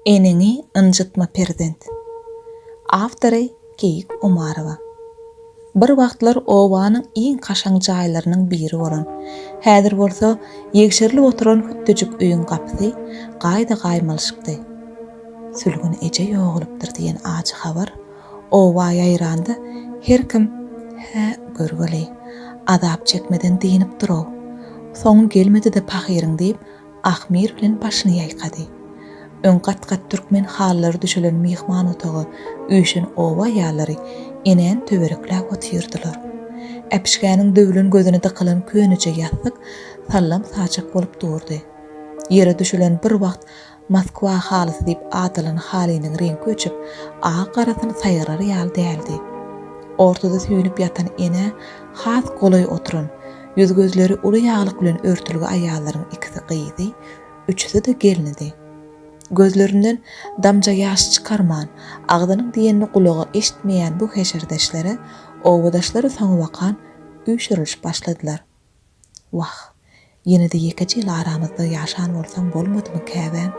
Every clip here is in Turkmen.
Eneňi ynjytma perzent. Awtory Keýik Umarowa. Bir wagtlar obanyň iň kaşaň jaýlarynyň biri bolan, häzir bolsa ýegşerilip oturan hütdüjik öýüň gapysy gaýda gaýmalyşykdy. Sülgün eje ýogalypdyr diýen ajy habar oba ýaýranda her kim Hä, görgeli, azap çekmeden dynypdyr-ow. Soňy gelmedi-de pahyryň diýip, Ahmyr bilen başyny ýaýkady. Öň gat-gat türkmen halylary düşelen myhman otaga üýşen oba aýallary enäni töwerekläp otyrdylar. Äpişgäniň döwlen gözüne dykylan köneje ýassyk sallam saçak bolup durdy. Ýere düşelen bir wagt Moskwa halysy diýip adalan halynyň reňki öçüp, agy garasyny saýgarar ýaly däldi. Ortada süýnüp ýatan enä has golaý oturan, Ýüz-gözleri uly ýaglyk bilen örtülgi aýallaryň ikisi gyzy, üçüsi-de gelnidi. Gözlerinden damja ýaş çykarman, agzynyň diýenini gulagy eşitmeýän bu heşerdeşlere obadaşlar soňabakan üýşürilişip başladylar. Wah, ýene-de ýekeje ýyl aramyzda ýaşan bolsaň bolmadymy käbäm?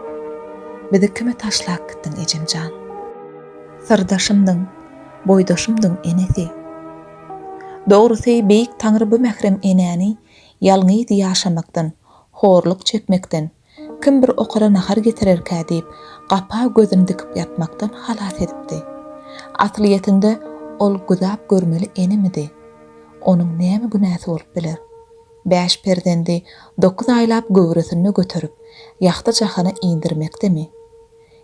Bizi kime taşlap gitdiň, ejem jan? Syrdaşymdyň, boýdaşymdyň enesi. Dogrusy, Beýik Taňry bu mährem enäni ýalňyz ýaşamakdan, horluk çekmekden, kim bir okara nahar getirerkä diýip, gapa gözüni dikip ýatmakdan halas edipdi. Aslyýetinde, ol güzap görmeli enemidi? Onuň näme günäsi bolup biler? Bäş perzendi dokuz aýlap göwresinde göterip, ýagty jahana indirmekdemi?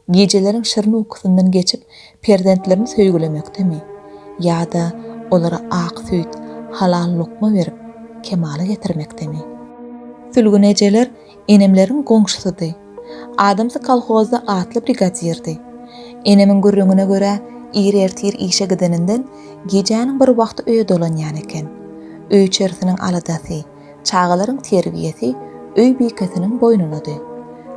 Gijeleriň şirin ukusyndan geçip, perzentlerini söýgülemekdemi? Ýa-da olara ak süýt, halal lukma berip, kemala getirmekdemi? Sülgün ejeler enemleriň goňşusydy. Adamsy kolhozda atly brigadirdi. Enemiň gürrüňine görä, ir ertir işe gideninden, gijäniň bir wagty öýe dolanýan eken. Öý-içerisiniň aladasy, Çagalaryň terbiýesi öý bikesiniň boýnunady.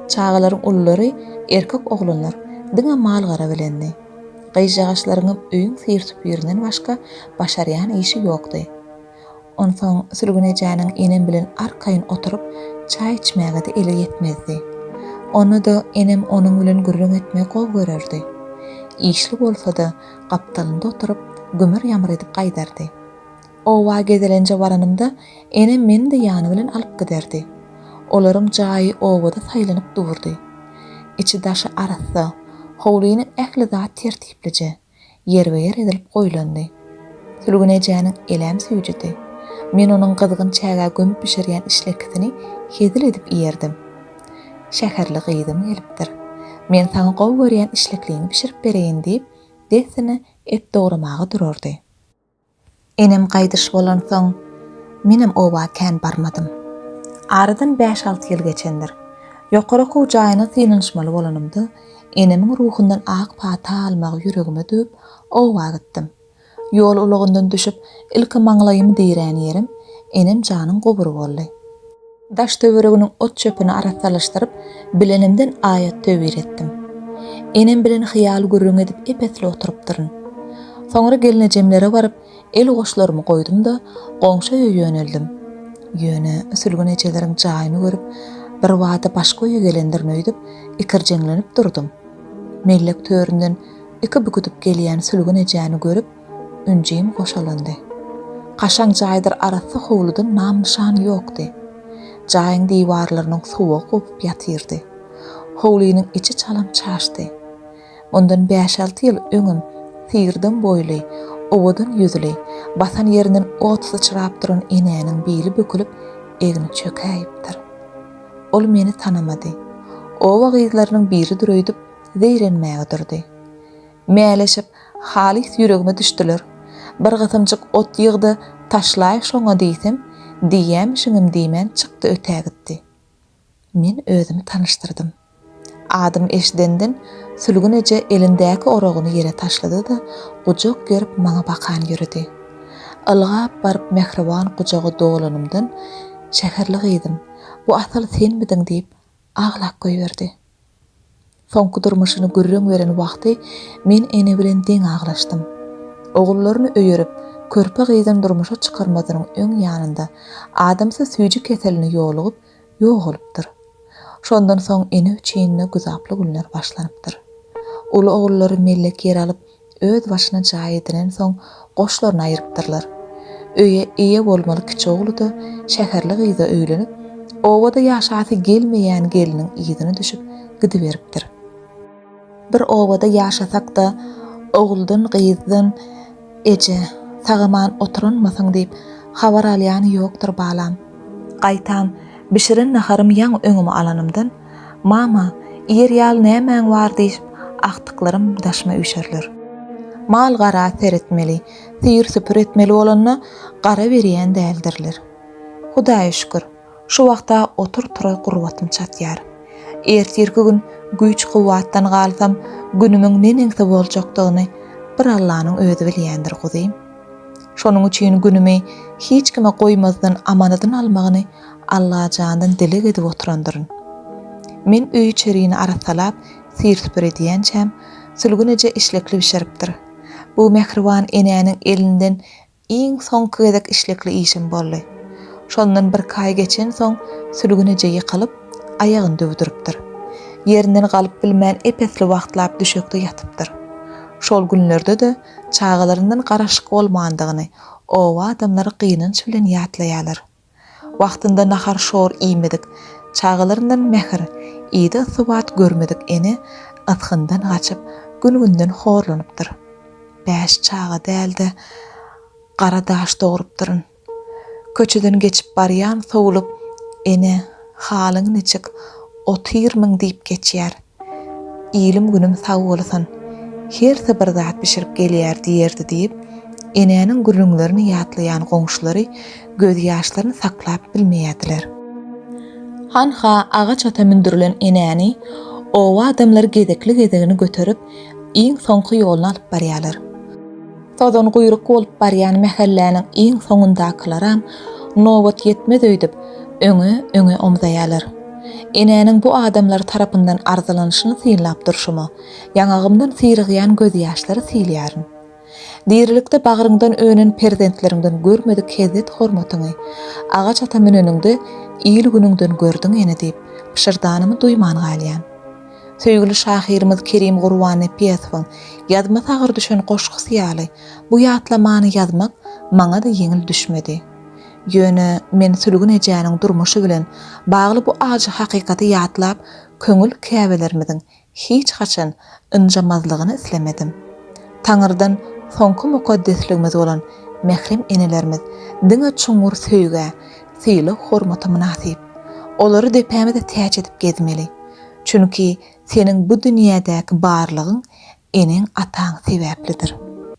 Çagalaryň ululary, erkek oglanlar, diňe mal-gara bilendi. Gyzjagaşlaryňam öýüň syr-süpürinden başga başarýan işi ýokdy. Onsoň Sülgün ejäniň enem bilen arkaýyn oturyp çaý içmäge-de eli ýetmezdi. Onda-da enem onuň bilen gürrüň etmegi gowy görerdi. Işli bolsa-da, gapdalynda oturyp, gümür-ýamyr edip gaýdardy. Oba gezelenje baranymda, enem meni-de ýany bilen alyp giderdi. Olaryň jaýy obada saýlanyp durdy. Içi-daşy arassa, howlynyň ähli zat tertiplije, ýerbe-ýer edilip goýlandy. Sülgün ejäniň elem süýjüdi. Men onuň gyzgyn çägä gömüp bişirýän işlekisini hezil edip iýerdim. Şäherli gyzym gelipdir. Men saňa gowy görýän işlekliňi bişirip bereýin diýip, dessine et dogramaga durardy. Enem gaýdyş bolansoň, menem oba kän barmadym. Aradan bäş-alty ýyl geçendir. Ýokary okuw jaýyna synanyşmaly bolanymda, enemiň ruhundan ak pata almagy ýüregime düwüp, oba gitdim. Ýol ulagyndan düşüp, ilki maňlaýymy dirän ýerim enemjanyň gubury boldy. Daş-töwereginiň ot-çöpüni arassalaşdyryp, bilenimden aýat-töwir etdim. Enem bilen hyýal gürrüň edip ep-esli oturypdyryn. Soňra gelnejemlere baryp, el goşlarymy goýdum-da, goňşy öýe ýöneldim. Ýöne Sülgün ejeleriň jaýyny görüp, birbada başga öýe gelendirin öýdüp, ikirjeňlenip durdum. Mellek töründen iki büküdip gelýän Sülgün ejäni görüp, Ünjim goşalandy. Kaşaň jaýdyr arassa howludan nam-nyşan ýokdy. Jaýyň diwarlarynyň suwugy gopup ýatyrdy. Howlynyň içi çalam çaşdy. Mundan bäş-alty ýyl öňem syrdam boýly, owadan ýüzli, basan ýerinden ot syçrap duran enäniň bili bükülip, egni çökäýipdir. Ol meni tanamady. Oba gyzlarynyň biridir öýdüp, zeýrenmäge durdy. Mäleşip, halys ýüregime düşdüler. Bir gysymjyk ot ýyg-da, taşlaý şoňa diýsem, diýýämişiňem diýmän çykdy ötägitdi. Men özümi tanyşdyrdym. Adymy eşidenden, Sülgün eje elindäki oragyny ýere taşlady-da, gujak gerip maňa bakan ýöredi. Ylgap baryp mähriban gujaga dolanymdan, Şäherli gyzym, bu Asal senmidiň diýip, Aglap goýberdi. Soňky durmuşyny gürrüň beren wagty men ene bilen deň aglaşdym. Ogullaryny öýerip, körpe gyzyny durmuşa çykarmazynyň öň ýanynda adamsy süýji keseline ýolugyp, ýogalypdyr. Şondan soň ene üçin-de güzaply günler başlanypdyr. Uly ogullary mellek ýer alyp, Öz başyna jaý edinensoň, goşlaryna aýrypdyrlar. Öýe eýe bolmaly kiçi ogly-da şäherli gyza öýlenip, obada ýaşasy gelmeýän gelniň yzyna düşüp gidiberipdir. Bir obada ýaşasak-da, oguldan, gyzdan, eje, sag-aman oturanmysyň diýip, habar alýany ýokdur, balam. Gaýtam, bişiren naharym ýaňy öňüme alanymdan, Mama, ýer ýaly nämäň bar diýşip, agtyklarym daşyma üýşerler. Mal-gara seretmeli, süýr-süpür etmeli bolanda gara berýän däldirler. Hudaýa şükür, şu wagta otur-tura gurbatym çatýar. Ertirki gün güýç-kuwwatdan galsam, günümiň neneňsi boljakdygyny bir Allanyň özi bilýändir, guzym. Şonuň üçin günümi hiç kime goýmazdan amanadyn almagyny Allajandan dileg edip oturandyryn. Men öý-içerini arassalap, syr-süpür edýänçäm, Sülgün eje işlekli bişiripdir. Bu mähriban enäniň elinden iň soňky gezek işlekli iýşim boldy. Şondan birki aý geçensoň Sülgün eje ýykylyp, aýagyny döwdüripdir. Ýerinden galyp bilmän ep-esli wagtlap düşekde ýatypdyr. Şol günlerde-de çagalaryndan garaşyk bolmandygyny oba adamlary gynanç bilen ýatlaýarlar. Wagtynda nahar-şor iýmedik, Çagalaryndan mähir, yza-subat görmedik ene ysgyndan gaçyp, gün-günden horlanypdyr. Bäş çaga däl-de, gara daş dogrupdyryn. Köçeden geçip barýan sowlup ene, Halyň niçik, otyr-myň diýip geçýär. Ilim günüm sag bolsun. Hersi bir zat bişirip gelýär diýerdi diýip, enäniň gürrüňlerini ýatlaýan goňşulary gözýaşlaryny saklap bilmeýärdiler. Hanha agaç ata mündürilen enäni oba adamlary gezekli-gezegini göterip, iň soňky ýoluna alyp barýarlar. Sozanguýruk bolup barýan mähelläniň iň soňundakylaram nobat ýetmez öýdüp, öňe, öňe omzaýarlar. Enäniň bu adamlar tarapyndan arzylanyşyny synlap durşuma, ýaňagymdan syrygýan gözýaşlary sylaýaryn. Dirilikde bagryňdan önen perzentleriňden görmedik hezzet-hormatyňy, agaç ata müneniňde il-günüňden gördüň ene diýip, pyşyrdanymy duýman galýan. Söýgüli şahyrymyz Kerim Gurbannepiýesowyň Ýadyma sagyr düşen goşgusy ýaly, bu ýatlamany ýazmak maňa-da ýeňil düşmedi. Ýöne men Sülgün ejäniň durmuşy bilen bagly bu ajy hakykaty ýatlap, köňül käbelerimiziň hiç haçan ynjamazlygyny islemedim. Taňyrdan soňky mukaddesligimiz bolan mährem enelerimiz diňe çuňňur söýgä, sylag-hormata mynasyp. Olary depämize täç edip gezmeli. Çünki seniň bu dünýädäki barlygyň eneň-ataň sebäplidir.